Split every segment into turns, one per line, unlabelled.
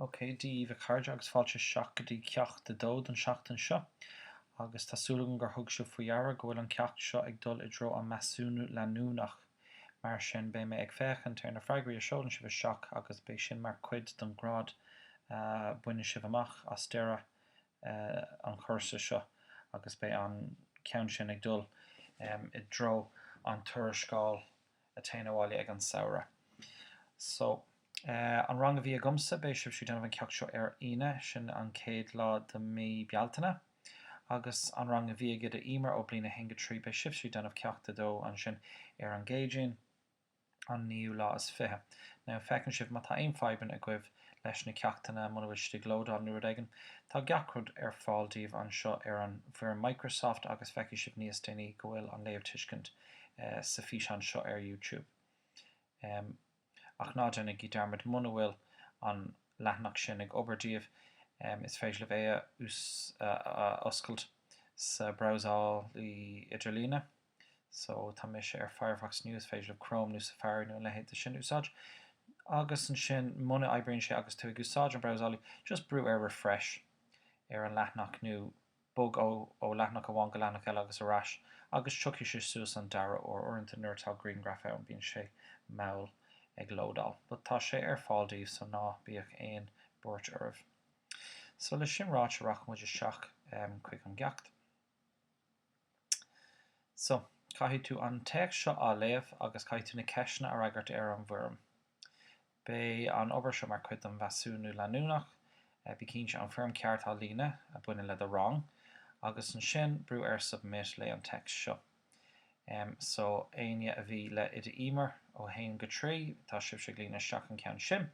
OK, Dia dhaoibh a chairde agus fáilte isteach go dtí Ceacht 2 don seachtain seo. Agus tá súil agam gur thug sibh faoi dheara go bhfuil an ceacht seo ag dul i dtreo an measúnú leanúnach. Mar sin beidh mé ag féachaint ar na freagraí a seolann sibh isteach agus beidh sin mar cuid don grád a bhaineann sibh amach as deireadh an chúrsa seo agus beidh an ceann sin ag dul i dtreo an tuarascáil a téann abhaile ag an samhradh. So, eh, an rang a bhí agamsa, beidh sibhse ag déanamh an ceacht seo ar Aoine, sin an chéad lá de mhí Bealtaine. Agus an rang a bhí ag Oide Emer ó Bliain 1-3, beidh sibhse ag déanamh Ceacht 2 ansin ar an gCéadaoin, an naoú lá is fiche. Now, feiceann sibh, má tá aon fadhbanna agaibh leis na ceachtanna, muna bhfuil siad ag lódáil nó rud éigin, tá gach rud ar fáil daoibh anseo ar an bhfoirm Microsoft agus feicfidh sibh níos déanaí go bhfuil an Léamhthuiscint, sa físeán seo ar YouTube. Ach ná déanaigí dearmad, muna bhfuil an leathanach sin ag obair daoibh, is féidir libh é a oscailt sa brabhsálaí idirlíne. So, tá mise ar Firefox now, is féidir libh Chrome nó Safari nó a leithéid de sin a úsáid. Agus ansin, muna oibríonn sé agus tú ag úsáid an brabhsálaí, just brú ar Refresh ar an leathanach nó Bog ó leathanach amháin go leathanach eile agus ar ais agus tiocfaidh sé suas an dara huair. Uaireanta nuair atá grianghraif ann bíonn sé mall ag lódáil. But tá sé ar fáil daoibh so ná bíodh aon buairt oraibh. So le sin ráite rachaidh muid isteach chuig an gceacht. So, caithfidh tú an téacs seo a léamh agus caithfidh tú na ceisteanna a fhreagairt ar an bhfoirm. Beidh an obair seo mar chuid den mheasúnú leanúnach, bí cinnte an foirm ceart a líonadh a bhaineann le do rang, agus ansin brú ar submit, léigh an text seo. So, éinne a bhí le Oide Emer ó 1 go 3, tá sibhse ag líonadh isteach an ceann sin,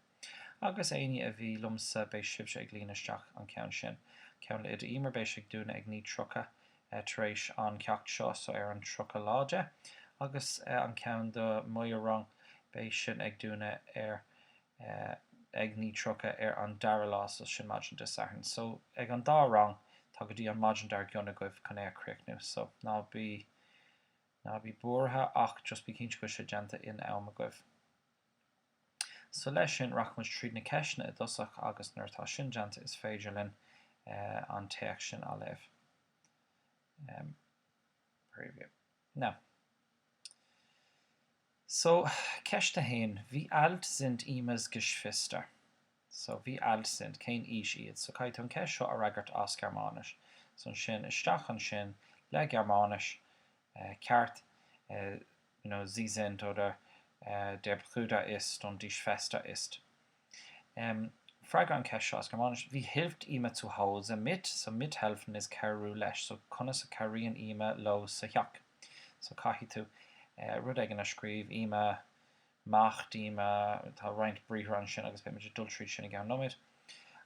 agus éinne a bhí liomsa, beidh sibhse ag líonadh isteach an ceann sin. Ceann le Oide Emer, beidh sé ag dúnadh ag 9:30 tar éis an ceacht seo so ar an 30 lá de, agus an ceann do mo rang, beidh sin ag dúnadh ar ag 9:30 ar an dara lá so sin maidin Dé Sathairn. So ag an dá rang tá go dtí an maidin dar gcionn agaibh chun é a chríochnú, so ná bí, ná bí buartha ach just bí cinnte go bhfuil sé déanta in am agaibh. So leis sin, rachaimid tríd na ceisteanna i dtosach agus nuair atá sin déanta is féidir linn an téacs sin a léamh. Preview. Now. So, Ceist a haon, Wie alt sind Emmas Geschwister? So, wie alt sind, cén aois iad? So, caithfidh tú an ceist seo a fhreagairt as Gearmáinis. So, ansin, isteach ansin le Gearmáinis, ceart, you know, sie sind, oder, der Bruder ist und die Schwester ist. freagair an ceist seo as Gearmáinis. Wie hilft Ima zu Hause mit? So, mithelfen is cabhrú leis. So, conas a chabhraíonn Ima leo sa theach? So, caithfidh tú, eh, rud éigin a scríobh, Ima, macht, Ima, tá roinnt briathra ansin agus beimid ag dul tríd sin i gceann nóiméid.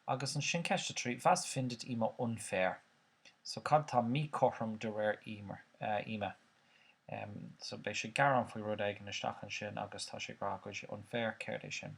Agus ansin ceist a trí, was findet Ima unfair? So cad tá míchothrom de réir Ima? So beidh sí ag gearán faoi rud éigin isteach ansin agus tá sí ag rá go bhfuil sé unfair, céard é sin?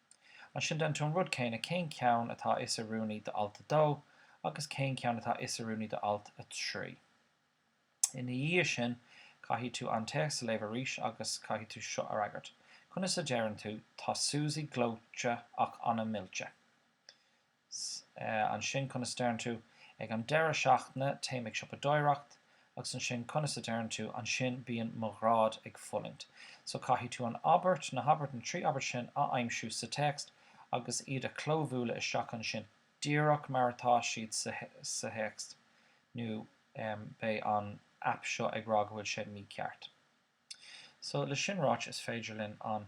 Ansin déan tú an rud céanna cén ceann atá is oiriúnaí d'alt 2 agus cén ceann atá is oiriúnaí d'alt 3. Ina dhiaidh sin caithfidh tú an téacs a léamh arís agus caithfidh tú seo a fhreagairt, conas a deireann tú 'Tá Susie gleoite ach an-mhillte'? 'S ansin conas a deireann tú Ag an deireadh seachtaine téim ag siopadóireacht Agus ansin conas a deireann tú Ansin bíonn mo ghráid ag fulaingt So caithfidh tú an abairt, na habairt, na trí abairt sin a aimsiú sa téacs agus iad a chlóbhualadh isteach ansin díreach mar atá siad sa théacs nó beidh an aip seo ag rá go bhfuil sé mícheart. So le sin ráite is féidir linn an.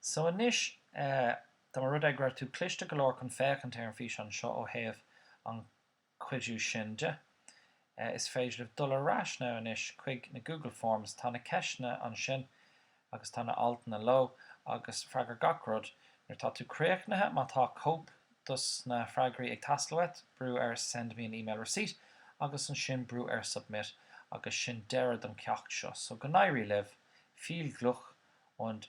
So anois, tá más rud é go raibh tú cliste go leor chun féachaint ar an físeán seo ó thaobh an cuidiú sin de, is féidir libh dul ar ais ná anois chuig na Google Forms, tá na ceisteanna ansin agus tá na altanna leo agus freagair gach rud nuair atá tú críochnaithe, má tá cóip dos na freagraí ag teastáil uait, brú ar send me an email receipt agus ansin brú ar submit agus sin deireadh don ceacht seo. So go n-éirí libh, viel Glück und.